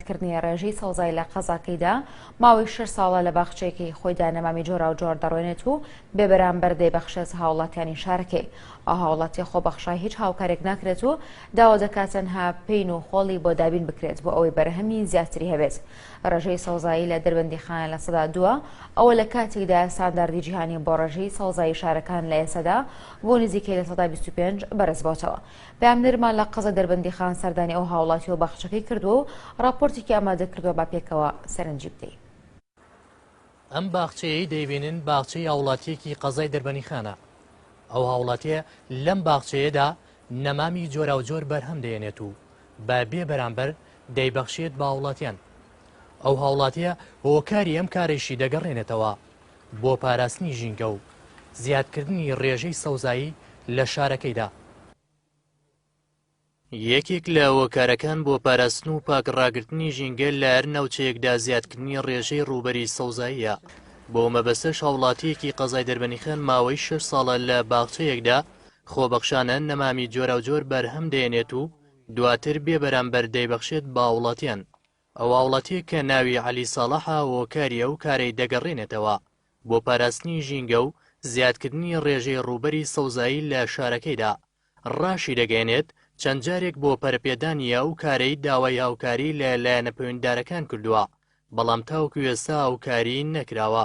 کردنی ڕێژەی سەوزای لە قەزاکەیدا، ماوەی شەش ساڵە لە باخچەیەکەی خۆیدا نەمامی جۆراوجۆر دەڕوێنێت و بێبەرامبەر دەیبەخشێت هاوڵاتیانی شارەکەی. ئەو هاوڵاتیە خۆبەخشە هیچ هاوکارێک ناکرێت و داوا دەکات تەنها پین و خۆڵی بۆ دابین بکرێت بۆ ئەوەی بەرهەمی زیاتری هەبێت. ڕێژەی سەوزایی لە دەربەندیخانە لە سەدا دووە، ئەوە لە کاتێکدا ستانداردی جیهانی بۆ ڕێژەی سەوزایی شارەکان لە ئێستادا بۆ نزیکەی لە سەدا بیست و پێنج بەرزبۆتەوە. پەیامنێرمان لە قەزای دەربەندیخان سەردانی ئەو هاوڵاتیەو باخچەکەی کردووە و ڕاپۆرتێکی ئامادەکردووە با پێکەوە سەرنجی بدەین. ئەم باخچەیەی دەیبینن باخچەی هاوڵاتیەکی قەزای دەربەنیخانە. ئەو هاوڵاتیە لەم باخچەیەدا نەمامی جۆراوجۆر بەرهەم دەێنێت و بە بێ بەرامبەر دەیبەخشێت بە هاوڵاتیان. ئەو هاوڵاتیە هۆکاری ئەم کارەیشی دەگەڕێنێتەوە بۆ پاراستنی ژینگە و زیادکردنی ڕێژەی سەوزایی لە شارەکەیدا. یەکێک لە هۆکارەکان بۆ پاراستن و پاک ڕاگرتنی ژینگە لە هەر ناوچەیەکدا زیادکردنی ڕێژەی ڕووبەری سەوزاییە، بەو مەبەستەش هاوڵاتییەکی قەزای دەربەنیخان ماوەی شەش ساڵە لە باخچەیەکدا خۆبەخشانە نەمامی جۆراوجۆر بەرهەم دەهێنێت و دواتر بێبەرامبەر دەیبەخشێت بە هاوڵاتیان. ئەو هاوڵاتیە کە ناوی عەلی ساڵەحە هۆکاری ئەو کارەی دەگەڕێنێتەوە بۆ پاراستنی ژینگە و زیادکردنی ڕێژەی ڕووبەری سەوزایی لە شارەکەیدا، ڕاشیدەگەیەنێت، چەند جارێک بۆ پەرەپێدانی ئەو کارەی داوای هاوکاری لە لایەنە پەویندارەکان کردووە، بەڵام تاوەکو ئێستا هاوکاری نەکراوە.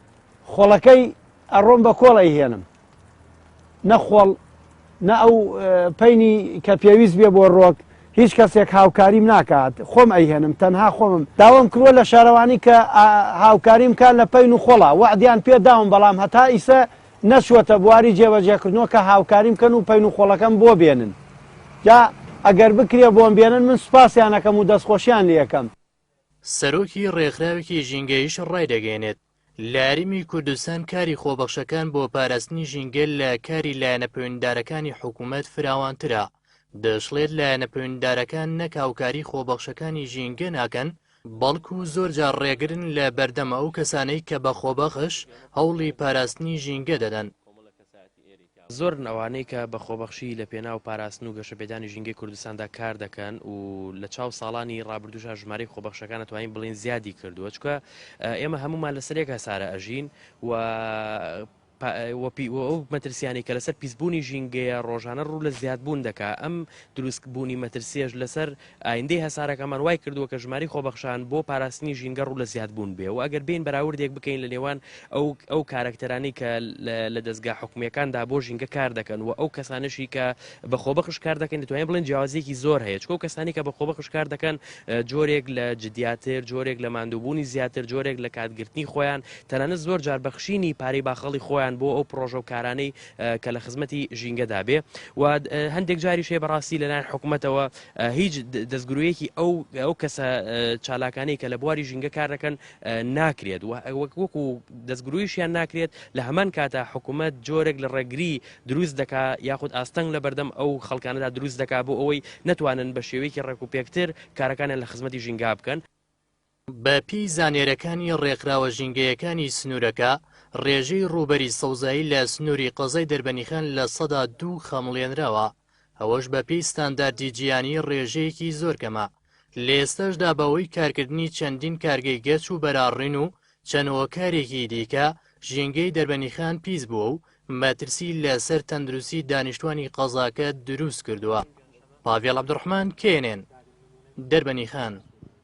خۆڵەکەی ئەڕۆم بە کۆڵ ئەیهێنم نە خۆڵ نە ئەو پینی کە پێویست بێ بۆ ڕۆک هیچ کەسێک هاوکاریم ناکات خۆم ئەیهێنم تەنها خۆمم داوام کردوە لە شارەوانی کە هاوکاریم کار لە پین و خۆڵا وعدیان پێ داوم بەڵام هەتا ئیسە نەچوەتە بواری جێبەجێکردنەوە کە هاوکاریم کەن و پین و خۆڵەکەم بۆ بێنن جا ئەگەر بکرێ بۆم بێنن من سوپاسیانەکەم و دەستخۆشیان لەکەم سەرۆکی ڕێکخراوێکی ژینگەیش ڕایدەگەیەنێت، لە هەرێمی کوردستان کاری خۆبەخشەکان بۆ پاراستنی ژینگە لە کاری لایەنە پەیوەندیدارەکانی حکوومەت فراوانترە، دەشڵێت لایەنە پەیوەندیدارەکان نەک هاوکاری خۆبەخشەکانی ژینگە ناکەن، بەڵکو زۆرجار ڕێگرن لە بەردەم ئەو کەسانەی کە بە خۆبەخش هەوڵی پاراستنی ژینگە دەدەن. زۆرن ئەوانەی کە بە خۆبەخشی لە پێناو پاراستن و گەشەپێدانی ژینگەی کوردستاندا کار دەکەن و لە چاو ساڵانی ڕابردووشا ژمارەی خۆبەخشەکان ئەتوانین بڵێین زیادی کردووە چونکە ئێمە هەموومان لەسەر یەک هەسارە ئەژین و وەپی و ئەو مەترسیانی کە لەسەر پیسبوونی ژینگەیە ڕۆژانە ڕوو لە زیادبوون دەکا ئەم دروستبوونی مەترسیەش لەسەر ئایندەی هەسارەکەمان وای کردووە کە ژمارەی خۆبەخشان بۆ پاراستنی ژینگە ڕوو لە زیادبوون بێ و ئەگەر بێین بەراوردێک بکەین لە نێوان ئەو ئەو کارەکتەرانەی کە لە دەزگا حکومییەکاندا بۆ ژینگە کار دەکەن و ئەو کەسانەشی کە بە خۆبەخش کار دەکەن دەتوانین بڵێن جیاوازییەکی زۆر هەیە چکۆ کەسانی کە بە خۆبەخش کار دەکەن جۆرێک لە جدیاتر جۆرێک لە ماندووبوونی زیاتر جۆرێک لە کاتگرتنی خۆیان تەنانەت زۆر جار بەخشینی پارەی باخەڵی خۆیان بۆ ئەو پڕۆژە و کارانەی کە لە خزمەتی ژینگەدا بێ و هەندێک جاریش هەیە بەڕاستی لەلایەن حکوومەتەوە هیچ دەستگرویەکی ئەو ئەو کەسە چالاکانی کە لە بواری ژینگە کار دەکەن ناکرێت وەک وەکو دەستگرویشیان ناکرێت لە هەمان کاتە حکوومەت جۆرێک لە ڕێگری دروست دەکا یاخود ئاستەنگ لە بەردەم ئەو خەڵکانەدا دروست دەکا بۆ ئەوەی نتوانن بە شێوەیەکی ڕێک و پێکتر کارەکانیان لە خزمەتی ژینگا بکەن بە پێی زانیاریەکانی ڕێکخراوە ژینگەیەکانی سنوورەکە، ڕێژەی ڕووبەری سەوزایی لە سنووری قەزای دەربەنیخان لە سەدا دوو خەمڵێنراوە، ئەوەش بە پێی ستانداردی جیهانی ڕێژەیەکی زۆر کەمە، لە ئێستاشدا بە هۆی کارکردنی چەندین کارگەی گەچ و بەراڕین و چەند هۆکارێکی دیکە، ژینگەی دەربەنیخان پیس بووە و مەترسی لە سەر تەندروستی دانیشتوانی قەزاکە دروست کردووە. پاڤێڵ عەبدولڕەحمان، knn، دەربەنیخان.